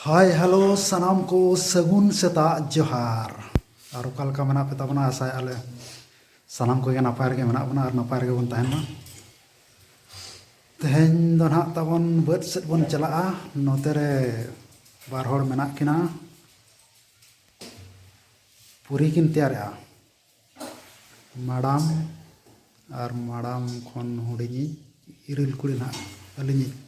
ᱦᱟᱭ hello ᱥᱟᱱᱟᱢ ᱠᱚ ᱥᱟᱹᱜᱩᱱ ᱥᱮᱛᱟᱜ ᱡᱚᱦᱟᱨ ᱟᱨ ᱚᱠᱟ ᱞᱮᱠᱟ ᱢᱮᱱᱟᱜ ᱯᱮ ᱛᱟᱵᱚᱱᱟ ᱟᱥᱟᱭ ᱟᱞᱮ ᱥᱟᱱᱟᱢ ᱠᱚᱜᱮ ᱱᱟᱯᱟᱭ ᱨᱮᱜᱮ ᱢᱮᱱᱟᱜ ᱵᱚᱱᱟ ᱟᱨ ᱱᱟᱯᱟᱭ ᱨᱮᱜᱮ ᱵᱚᱱ ᱛᱟᱦᱮᱱ ᱢᱟ ᱛᱮᱦᱮᱧ ᱫᱚ ᱱᱟᱦᱟᱜ ᱛᱟᱵᱚᱱ ᱵᱟᱹᱫᱽ ᱥᱮᱫ ᱵᱚᱱ ᱪᱟᱞᱟᱜᱼᱟ ᱱᱚᱛᱮ ᱨᱮ ᱵᱟᱨ ᱦᱚᱲ ᱢᱮᱱᱟᱜ ᱠᱤᱱᱟ ᱯᱩᱨᱤ ᱠᱤᱱ ᱛᱮᱭᱟᱨᱮᱜᱼᱟ ᱢᱟᱲᱟᱢ ᱟᱨ ᱢᱟᱲᱟᱢ ᱠᱷᱚᱱ ᱦᱩᱰᱤᱧᱤᱡ ᱤᱨᱤᱞ ᱠᱩᱲᱤ ᱱᱟᱦᱟᱜ ᱟᱹᱞᱤᱧᱤᱡ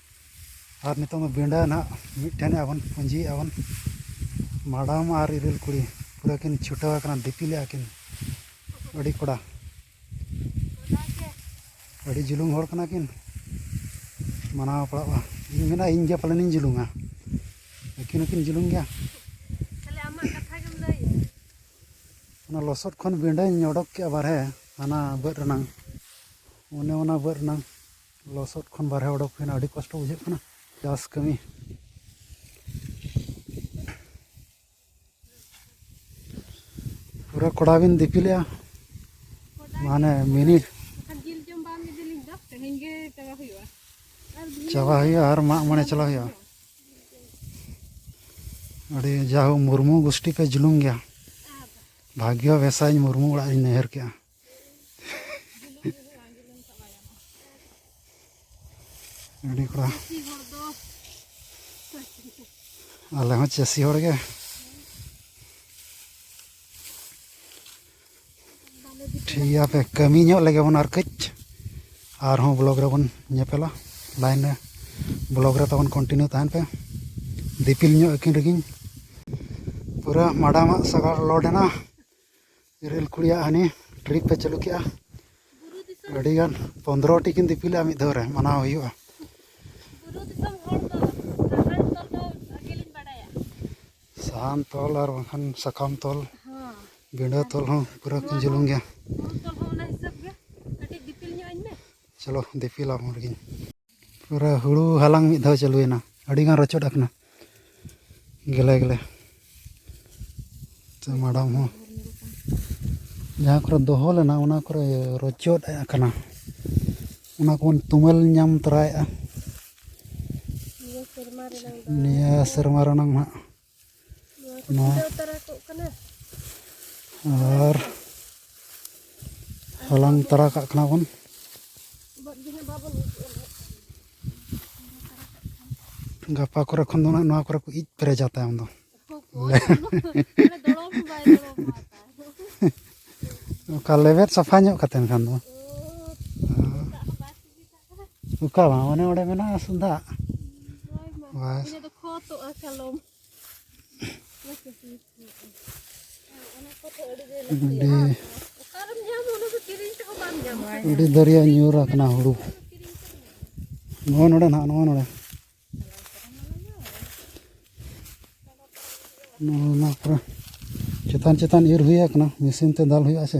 ᱟᱨ ᱱᱤᱛᱚᱝ ᱫᱚ ᱵᱤᱸᱰᱟᱹ ᱱᱟᱦᱟᱜ ᱢᱤᱫᱴᱷᱮᱱ ᱟᱵᱚᱱ ᱯᱩᱸᱡᱤᱭᱮᱜᱼᱟ ᱵᱚᱱ ᱢᱟᱰᱟᱢ ᱟᱨ ᱤᱨᱤᱞ ᱠᱩᱲᱤ ᱯᱩᱨᱟᱹ ᱠᱤᱱ ᱪᱷᱩᱴᱟᱹᱣ ᱟᱠᱟᱱᱟ ᱫᱤᱯᱤᱞᱮᱜᱼᱟ ᱠᱤᱱ ᱟᱹᱰᱤ ᱠᱚᱰᱟ ᱟᱹᱰᱤ ᱡᱩᱞᱩᱝ ᱦᱚᱲ ᱠᱟᱱᱟ ᱠᱤᱱ ᱢᱟᱱᱟᱣ ᱯᱟᱲᱟᱜᱼᱟ ᱤᱧ ᱢᱮᱱᱟ ᱤᱧ ᱜᱮ ᱯᱟᱞᱮᱱ ᱤᱧ ᱡᱩᱞᱩᱝᱟ ᱟᱹᱠᱤᱱ ᱦᱚᱸᱠᱤᱱ ᱡᱩᱞᱩᱝ ᱜᱮᱭᱟ ᱚᱱᱟ ᱞᱚᱥᱚᱫ ᱠᱷᱚᱱ ᱵᱤᱸᱰᱟᱹᱧ ᱚᱰᱚᱠ ᱠᱮᱜᱼᱟ ᱵᱟᱦᱨᱮ ᱦᱟᱱᱟ ᱵᱟᱹᱫᱽ ᱨᱮᱱᱟᱝ ᱚᱱᱮ ᱚᱱᱟ ᱵᱟᱹᱫᱽ ᱨᱮᱱᱟᱝ ᱞᱚᱥᱚᱫ ᱠᱷᱚᱱ ᱵᱟᱨᱦᱮ ᱚᱰᱚᱠ ᱦᱩᱭᱱᱟ ᱟᱹᱰᱤ ᱠᱚᱥᱴᱚ ᱵᱩᱡᱷᱟᱹᱜ ᱠᱟᱱᱟ ᱪᱟᱥ ᱠᱟᱹᱢᱤ ᱯᱩᱨᱟᱹ ᱠᱚᱲᱟ ᱵᱤᱱ ᱫᱤᱯᱤᱞᱮᱜᱼᱟ ᱢᱟᱱᱮ ᱢᱤᱱᱤ ᱪᱟᱵᱟ ᱦᱩᱭᱩᱜᱼᱟ ᱟᱨ ᱢᱟᱜ ᱢᱚᱬᱮ ᱪᱟᱞᱟᱣ ᱦᱩᱭᱩᱜᱼᱟ ᱟᱹᱰᱤ ᱡᱟᱦᱳ ᱢᱩᱨᱢᱩ ᱜᱳᱥᱴᱤ ᱯᱮ ᱡᱩᱞᱩᱢ ᱜᱮᱭᱟ ᱵᱷᱟᱜᱽᱭᱚ ᱵᱮᱥᱟᱧ ᱢᱩᱨᱢᱩ ᱚᱲᱟᱜ ᱤᱧ ᱱᱟᱹᱭᱦᱟᱹᱨ ᱠᱮᱜᱼᱟ ᱟᱹᱰᱤ ᱠᱚᱲᱟ ᱟᱞᱮ ᱦᱚᱸ ᱪᱟᱹᱥᱤ ᱦᱚᱲ ᱜᱮ ᱴᱷᱤᱠ ᱜᱮᱭᱟ ᱯᱮ ᱠᱟᱹᱢᱤ ᱧᱚᱜ ᱞᱮᱜᱮ ᱵᱚᱱ ᱟᱨ ᱠᱟᱹᱡ ᱟᱨᱦᱚᱸ ᱵᱞᱚᱜᱽ ᱨᱮᱵᱚᱱ ᱧᱮᱯᱮᱞᱟ ᱞᱟᱭᱤᱱ ᱨᱮ ᱵᱞᱚᱜᱽ ᱨᱮ ᱛᱟᱵᱚᱱ ᱠᱚᱱᱴᱤᱱᱤᱭᱩ ᱛᱟᱦᱮᱱ ᱯᱮ ᱫᱤᱯᱤᱞ ᱧᱚᱜ ᱟᱹᱠᱤᱱ ᱨᱮᱜᱮᱧ ᱯᱩᱨᱟᱹ ᱢᱟᱰᱟᱢᱟᱜ ᱥᱟᱜᱟᱲ ᱞᱳᱰ ᱮᱱᱟ ᱨᱮᱹᱞ ᱠᱩᱲᱤᱭᱟᱜ ᱦᱟᱹᱱᱤ ᱴᱨᱤᱯ ᱮ ᱪᱟᱹᱞᱩ ᱠᱮᱜᱼᱟ ᱟᱹᱰᱤ ᱜᱟᱱ ᱯᱚᱸᱫᱽᱨᱚ ᱴᱤ ᱠᱤᱱ ᱫᱤᱯᱤᱞᱟ ᱢᱤᱫ ᱫᱷᱟᱣ ᱨᱮ ᱢᱟᱱᱟᱣ ᱦᱩᱭᱩᱜᱼᱟ ᱥᱟᱦᱟᱱ ᱛᱚᱞ ᱟᱨ ᱵᱟᱝᱠᱷᱟᱱ ᱥᱟᱠᱟᱢ ᱛᱚᱞ ᱵᱤᱸᱰᱟᱹ ᱛᱚᱞ ᱦᱚᱸ ᱯᱩᱨᱟᱹ ᱠᱤᱱ ᱡᱩᱞᱩᱢ ᱜᱮᱭᱟ ᱪᱚᱞᱚ ᱫᱤᱯᱤᱞ ᱟᱢ ᱨᱮᱜᱮᱧ ᱯᱩᱨᱟᱹ ᱦᱩᱲᱩ ᱦᱟᱞᱟᱝ ᱢᱤᱫ ᱫᱷᱟᱣ ᱪᱟᱹᱞᱩᱭᱮᱱᱟ ᱟᱹᱰᱤᱜᱟᱱ ᱨᱚᱪᱚᱫ ᱟᱠᱟᱱᱟ ᱜᱮᱞᱮ ᱜᱮᱞᱮ ᱥᱮ ᱢᱟᱰᱟᱢ ᱦᱚᱸ ᱡᱟᱦᱟᱸ ᱠᱚᱨᱮ ᱫᱚᱦᱚ ᱞᱮᱱᱟ ᱚᱱᱟ ᱠᱚᱨᱮ ᱨᱚᱪᱚᱫ ᱟᱠᱟᱱᱟ ᱚᱱᱟ ᱠᱚᱵᱚᱱ ᱛᱩᱢᱟᱹᱞ ᱧᱟᱢ ᱛᱚᱨᱟᱭᱮᱫᱼᱟ ᱱᱤᱭᱟᱹ ᱥᱮᱨᱢᱟ ᱨᱮᱱᱟᱜ ᱦᱟᱸᱜ ᱱᱚᱣᱟ ᱟᱨ ᱦᱟᱞᱟᱝ ᱛᱟᱨᱟ ᱠᱟᱜ ᱠᱟᱱᱟ ᱵᱚᱱ ᱜᱟᱯᱟ ᱠᱚᱨᱮ ᱠᱷᱚᱱ ᱫᱚ ᱱᱚᱣᱟ ᱠᱚᱨᱮ ᱠᱚ ᱤᱡ ᱯᱮᱨᱮᱡᱟ ᱛᱟᱭᱚᱢ ᱫᱚ ᱚᱠᱟ ᱞᱮᱵᱮᱫ ᱥᱟᱯᱷᱟ ᱧᱚᱜ ᱠᱟᱛᱮ ᱮᱱᱠᱷᱟᱱ ᱫᱚ ᱚᱠᱟ ᱵᱟᱝ ᱚᱱᱮ ᱚᱸᱰᱮ ᱢᱮᱱᱟᱜᱼᱟ ᱥᱩᱫᱷᱟᱜ ᱵᱟᱥ ᱟᱹᱰᱤ ᱫᱟᱹᱨᱭᱟᱹ ᱧᱩᱨ ᱟᱠᱟᱱᱟ ᱦᱩᱲᱩ ᱱᱚᱜᱼᱚ ᱱᱚᱰᱮ ᱱᱟᱦᱟᱜ ᱱᱚᱜᱼᱚ ᱱᱚᱰᱮ ᱱᱚᱣᱟ ᱠᱚᱨᱮ ᱪᱮᱛᱟᱱ ᱪᱮᱛᱟᱱ ᱤᱨ ᱦᱩᱭ ᱟᱠᱟᱱᱟ ᱢᱮᱥᱤᱱ ᱛᱮ ᱫᱟᱞ ᱦᱩᱭᱩᱜᱼᱟ ᱥᱮ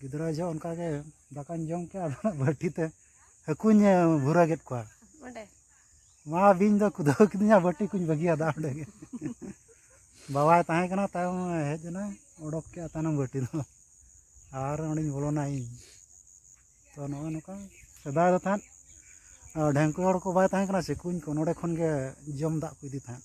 ᱜᱤᱫᱽᱨᱟᱹ ᱡᱚᱦᱚᱜ ᱚᱱᱠᱟ ᱜᱮ ᱫᱟᱠᱟᱧ ᱡᱚᱢ ᱠᱮᱫᱟ ᱟᱫᱚ ᱵᱟᱹᱴᱤ ᱛᱮ ᱦᱟᱹᱠᱩᱧ ᱵᱷᱩᱨᱟᱹ ᱠᱮᱫ ᱠᱚᱣᱟ ᱚᱸᱰᱮ ᱢᱟ ᱵᱤᱧ ᱫᱚ ᱠᱩᱫᱟᱹᱣ ᱠᱤᱫᱤᱧᱟ ᱵᱟᱹᱴᱤ ᱠᱚᱧ ᱵᱟᱹᱜᱤᱭᱟᱫᱟ ᱚᱸᱰᱮ ᱜᱮ ᱵᱟᱵᱟᱭ ᱛᱟᱦᱮᱸ ᱠᱟᱱᱟ ᱛᱟᱭᱚᱢ ᱦᱮᱡ ᱮᱱᱟ ᱚᱰᱚᱠ ᱠᱮᱫᱟ ᱛᱟᱭᱱᱚᱢ ᱵᱟᱹᱴᱤ ᱫᱚ ᱟᱨ ᱚᱸᱰᱮᱧ ᱵᱚᱞᱚᱱᱟ ᱤᱧ ᱛᱚ ᱱᱚᱜᱼᱚᱭ ᱱᱚᱝᱠᱟ ᱥᱮᱫᱟᱭ ᱫᱚ ᱛᱟᱦᱮᱸᱫ ᱰᱷᱮᱝᱠᱩ ᱦᱚᱲ ᱠᱚ ᱵᱟᱭ ᱛᱟᱦᱮᱸ ᱠᱟᱱᱟ ᱥᱮ ᱠᱩᱧ ᱠᱚ ᱱᱚᱰᱮ ᱠᱷᱚᱱ ᱜᱮ ᱡᱚᱢ ᱫᱟᱜ ᱠᱚ ᱤᱫᱤ ᱛᱟᱦᱮᱸᱫ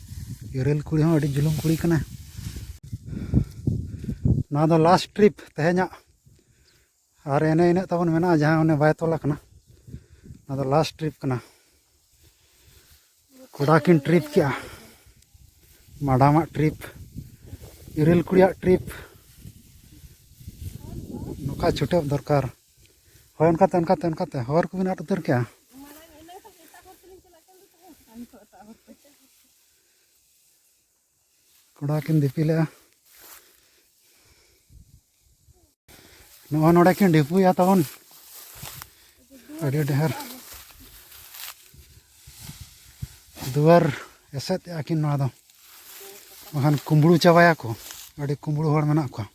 ᱤᱨᱟᱹᱞ ᱠᱩᱲᱤ ᱦᱚᱸ ᱟᱹᱰᱤ ᱡᱩᱞᱩᱢ ᱠᱩᱲᱤ ᱠᱟᱱᱟ ᱱᱚᱣᱟ ᱫᱚ ᱞᱟᱥᱴ ᱴᱨᱤᱯ ᱛᱮᱦᱮᱧᱟᱜ ᱟᱨ ᱮᱱᱮ ᱤᱱᱟᱹᱜ ᱛᱟᱵᱚᱱ ᱢᱮᱱᱟᱜᱼᱟ ᱡᱟᱦᱟᱸ ᱚᱱᱮ ᱵᱟᱭ ᱛᱚᱞ ᱟᱠᱟᱱᱟ ᱱᱚᱣᱟ ᱫᱚ ᱞᱟᱥᱴ ᱴᱨᱤᱯ ᱠᱟᱱᱟ ᱠᱚᱲᱟ ᱠᱤᱱ ᱴᱨᱤᱯ ᱠᱮᱜᱼᱟ ᱢᱟᱰᱟᱢᱟᱜ ᱴᱨᱤᱯ ᱤᱨᱟᱹᱞ ᱠᱩᱲᱤᱭᱟᱜ ᱴᱨᱤᱯ ᱱᱚᱝᱠᱟ ᱪᱷᱩᱴᱟᱹᱣ ᱫᱚᱨᱠᱟᱨ ᱦᱳᱭ ᱚᱱᱠᱟᱛᱮ ᱚᱱᱠᱟᱛᱮ ᱚᱱᱠᱟᱛᱮ ᱦᱚᱨ ᱠᱚᱵᱤᱱ ᱟᱫ ᱩᱛᱟᱹᱨ ᱠᱮᱜᱼᱟ ᱠᱚᱲᱟ ᱠᱤᱱ ᱫᱤᱯᱤᱞᱮᱜᱼᱟ ᱱᱚᱜᱼᱚ ᱱᱚᱰᱮ ᱠᱤᱱ ᱰᱷᱤᱯᱩᱭᱟ ᱛᱟᱵᱚᱱ ᱟᱹᱰᱤ ᱰᱷᱮᱨ ᱫᱩᱣᱟᱹᱨ ᱮᱥᱮᱫ ᱮᱜᱼᱟ ᱠᱤᱱ ᱱᱚᱣᱟ ᱫᱚ ᱵᱟᱠᱷᱟᱱ ᱠᱩᱢᱵᱽᱲᱩ ᱪᱟᱵᱟᱭᱟᱠᱚ ᱟᱹᱰᱤ ᱠᱩᱢᱵᱽᱲᱩ ᱦᱚᱲ ᱢᱮᱱᱟᱜ ᱠᱚᱣᱟ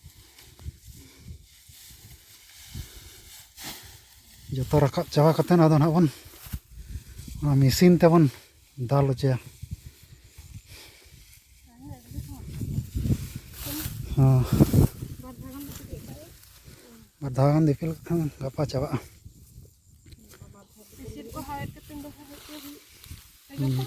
ᱡᱚᱛᱚ ᱨᱟᱠᱟᱵ ᱪᱟᱵᱟ ᱠᱟᱛᱮ ᱟᱫᱚ ᱱᱟᱦᱟᱜ ᱵᱚᱱ ᱚᱱᱟ ᱢᱮᱹᱥᱤᱱ ᱛᱮᱵᱚᱱ ᱫᱟᱞ ᱦᱚᱪᱚᱭᱟ ᱦᱚᱸ ᱵᱟᱨ ᱫᱷᱟᱣ ᱜᱟᱱ ᱫᱤᱯᱤᱞ ᱠᱟᱛᱮ ᱜᱟᱯᱟ ᱪᱟᱵᱟᱜᱼᱟ ᱦᱩᱸ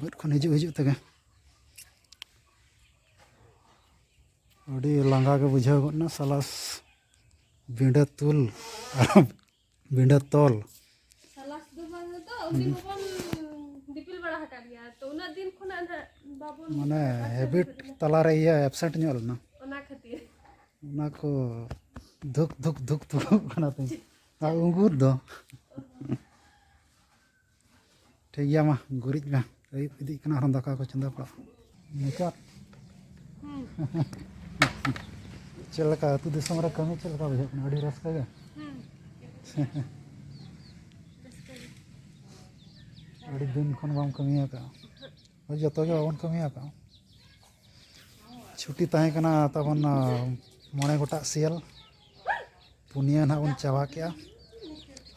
ᱵᱟᱹᱫᱽ ᱠᱷᱚᱱ ᱦᱤᱡᱩᱜ ᱦᱤᱡᱩᱜ ᱛᱮᱜᱮ ᱟᱹᱰᱤ ᱞᱟᱸᱜᱟ ᱜᱮ ᱵᱩᱡᱷᱟᱹᱣ ᱜᱚᱫ ᱮᱱᱟ ᱥᱟᱞᱟᱥ ᱵᱤᱸᱰᱟᱹ ᱛᱩᱞ ᱟᱨ ᱵᱤᱸᱰᱟᱹ ᱛᱚᱞ ᱢᱟᱱᱮ ᱦᱮᱵᱤᱴ ᱛᱟᱞᱟᱨᱮ ᱤᱭᱟᱹ ᱮᱵᱥᱮᱱᱴ ᱧᱚᱜ ᱞᱮᱱᱟ ᱚᱱᱟ ᱠᱷᱟᱹᱛᱤᱨ ᱚᱱᱟ ᱠᱚ ᱫᱷᱩᱠ ᱫᱷᱩᱠ ᱫᱷᱩᱠ ᱫᱷᱩᱠ ᱠᱟᱱᱟ ᱛᱤᱧ ᱟᱨ ᱩᱸᱜᱩᱨ ᱫᱚ ᱴᱷᱤᱠ ᱜᱮᱭᱟ ᱢᱟ ᱜᱩᱨᱤᱡ ᱢᱮ ᱟᱹᱭᱩᱵ ᱤᱫᱤᱜ ᱠᱟᱱᱟ ᱟᱨᱦᱚᱸ ᱫᱟᱠᱟ ᱠᱚ ᱪᱚᱸᱫᱟ ᱯᱟᱲᱟᱜ ᱢᱩᱪᱟᱹᱫ ᱪᱮᱫ ᱞᱮᱠᱟ ᱟᱹᱛᱩ ᱫᱤᱥᱚᱢ ᱨᱮ ᱠᱟᱹᱢᱤ ᱪᱮᱫ ᱞᱮᱠᱟ ᱵᱩᱡᱷᱟᱹᱜ ᱠᱟᱱᱟ ᱟᱹᱰᱤ ᱨᱟᱹᱥᱠᱟᱹ ᱜᱮ ᱟᱹᱰᱤ ᱫᱤᱱ ᱠᱷᱚᱱ ᱵᱟᱢ ᱠᱟᱹᱢᱤ ᱟᱠᱟᱫᱼᱟ ᱦᱳᱭ ᱡᱚᱛᱚ ᱜᱮ ᱵᱟᱵᱚᱱ ᱠᱟᱹᱢᱤ ᱟᱠᱟᱫᱼᱟ ᱪᱷᱩᱴᱤ ᱛᱟᱦᱮᱸ ᱠᱟᱱᱟ ᱛᱟᱵᱚᱱ ᱢᱚᱬᱮ ᱜᱚᱴᱟᱜ ᱥᱤᱭᱟᱹᱞ ᱯᱩᱱᱭᱟᱹ ᱱᱟᱦᱟᱜ ᱵᱚᱱ ᱪᱟᱵᱟ ᱠᱮᱜᱼᱟ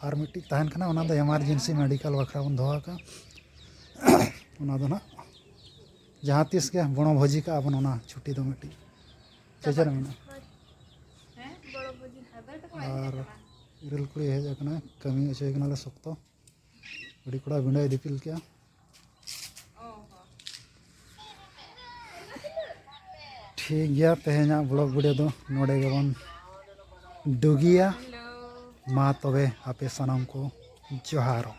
ᱟᱨ ᱢᱤᱫᱴᱤᱡ ᱛᱟᱦᱮᱱ ᱠᱟᱱᱟ ᱚᱱᱟ ᱫᱚ ᱮᱢᱟᱨᱡᱮᱱᱥᱤ ᱢᱮᱰᱤᱠᱮᱞ ᱵᱟᱠᱷᱨᱟ ᱵᱚᱱ ᱫᱚᱦᱚ ᱟᱠᱟᱫᱼᱟ ᱚᱱᱟ ᱫᱚ ᱦᱟᱸᱜ ᱡᱟᱦᱟᱸ ᱛᱤᱥ ᱜᱮ ᱵᱚᱱᱚ ᱵᱷᱳᱡᱤ ᱠᱟᱜᱼᱟ ᱵᱚᱱ ᱚᱱᱟ ᱪᱷᱩᱴᱤ ᱫᱚ ᱢᱤᱫᱴᱤᱡ ᱪᱮᱫ ᱨᱮ ᱢᱮᱱᱟᱜᱼᱟ ᱟᱨ ᱤᱨᱟᱹᱞ ᱠᱩᱲᱤ ᱦᱮᱡ ᱟᱠᱟᱱᱟ ᱠᱟᱹᱢᱤ ᱦᱚᱪᱚᱭᱮ ᱠᱟᱱᱟᱞᱮ ᱥᱚᱠᱛᱚ ᱟᱹᱰᱤ ᱠᱚᱲᱟ ᱵᱤᱸᱰᱟᱭ ᱫᱤᱯᱤᱞ ᱠᱮᱜᱼᱟ ᱴᱷᱤᱠ ᱜᱮᱭᱟ ᱛᱮᱦᱮᱧᱟᱜ ᱵᱞᱚᱜ ᱵᱷᱤᱰᱤᱭᱳ ᱫᱚ ᱱᱚᱰᱮ ᱜᱮᱵᱚᱱ ᱰᱩᱜᱤᱭᱟ ᱢᱟ ᱛᱚᱵᱮ ᱟᱯᱮ ᱥᱟᱱᱟᱢ ᱠᱚ ᱡᱚᱦᱟᱨᱚᱜ